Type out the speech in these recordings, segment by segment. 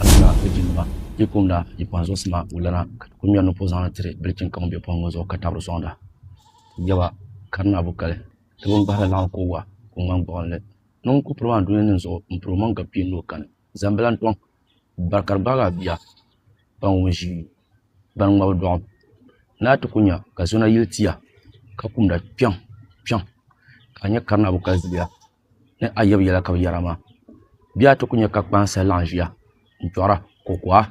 Alana ni di nima yi kumda yi kpaŋ zuɣusi ma wulana ka ti ku ŋmɛri ni po zaŋli tiri bilichini ka ŋun be pɔŋ ŋɔ zuɣu ka tabiri sɔŋda. Ti jɛba, ka di naa bu kali, ti bi ŋgbahiri laɣim ka o wa ka o ŋmani gbuɣinli. Ni ŋun ku piri maa dunia nin zuɣu m-piri o maŋ gabi kpee ni o kani. Zambila n-tɔŋ bari ka di gbaagi a bia ban wum ʒi bani ŋmabu dɔɣim. Ni a ti ku nya ka zɔna yili ti ya ka kumda kpiɔŋ kpiɔŋ ka a nya ka di naa bu kali zuliya. ni ayɔbu yɛla ka bi yɛra maa bee a ti ku nyɛ ka kpaŋsi laɣam ʒiya n chɔɣara kokoha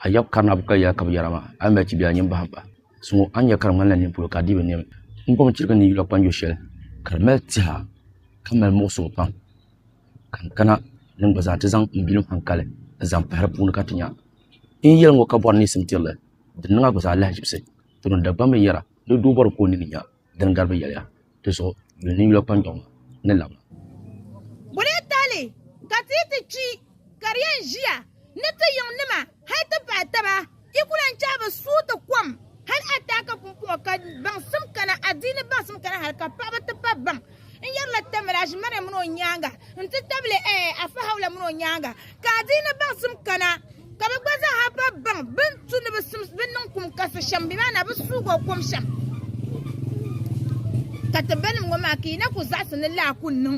ayɔbu karina bukali yɛla ka bi yɛra maa a yi mali chibiɛla nyin bahim pahi suŋɔ a ni nyɛ ka di ŋmanila nimpolo ka a dii bi niɛm n gom chirigi ni n yula kpanjo shɛli ka di mali tiha ka mali muɣisigu pam ka n kana ni n gba zaa ti zaŋ n bilim hankali n zaŋ pahi di puuni ka ti nya n ni yɛli ŋɔ ka bɔri niŋsim tirili di niŋ a gba zaa lahaʒibisi tooni Dagbaŋ binyɛra ni doo bɔri ka o nini nya din gari binyɛliya ti zuɣu yuli ni yula kpanjɔŋ maa ni labina. Bɔ lee tahili ka ti yi ti kpi ka di yɛn ʒiya ni ti yiŋ nima hal ti pahi taba, yi ku lan chahi bi suhu ti kom hal a taaka pumpɔŋɔ ka baŋsim kana, adiini baŋsim kana hal ka paɣiba ti pahi baŋ. n yɛrila tamil aʒimana mini o nyaaŋa n-ti tabili eh, afahawula mini o nyaaŋa ka adiini baŋsim kana ka bɛ gba zaaha pa baŋ bɛ ni tu ni bɛ sim bɛ niŋ kum kasi shɛm bɛ maa na bɛ suugi o kom shɛm ka ti banim ŋɔ maa ka yi na ku zaɣisi ni laa ku niŋ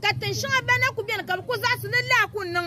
ka tin shɛŋa bɛn na ku beni ka bɛ ku zaɣisi ni laa ku niŋ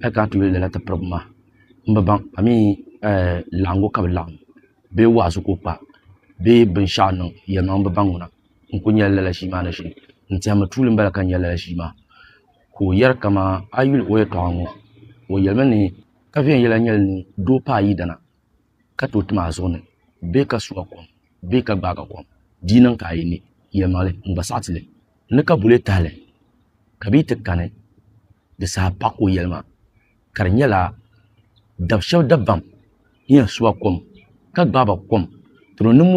hali ka a ti yuli lala ti pirigi maa n bi baŋ amii laɣingu ka bi laɣim bee wa'azu ka o kpa bee binshɛɣu niŋ yɛlimaŋli n bi baŋ ŋuna n kuli nyɛla lala ʒii maa ni ʒini n tɛhimi tuuli m bala ka n nya lala ʒii maa ka o yɛri kaman a yuli o yɛltɔɣa ŋɔ o yɛlimi ni ka viɛnyɛla nyɛli ni doo paai yidana ka tooi tim a zuɣu ni bee ka su a kom bee ka gbaag a kom, di yi niŋ ka a yi ne, Yɛlimaŋli, n gba saɣiti li. N ni ka bulee tahili, ka bɛ yi ti kani, di saha paɣ ka o yɛli ma, ka di nyɛla dab shɛb dabam ni yɛn su a kom ka gbaag ba kom, dama niŋ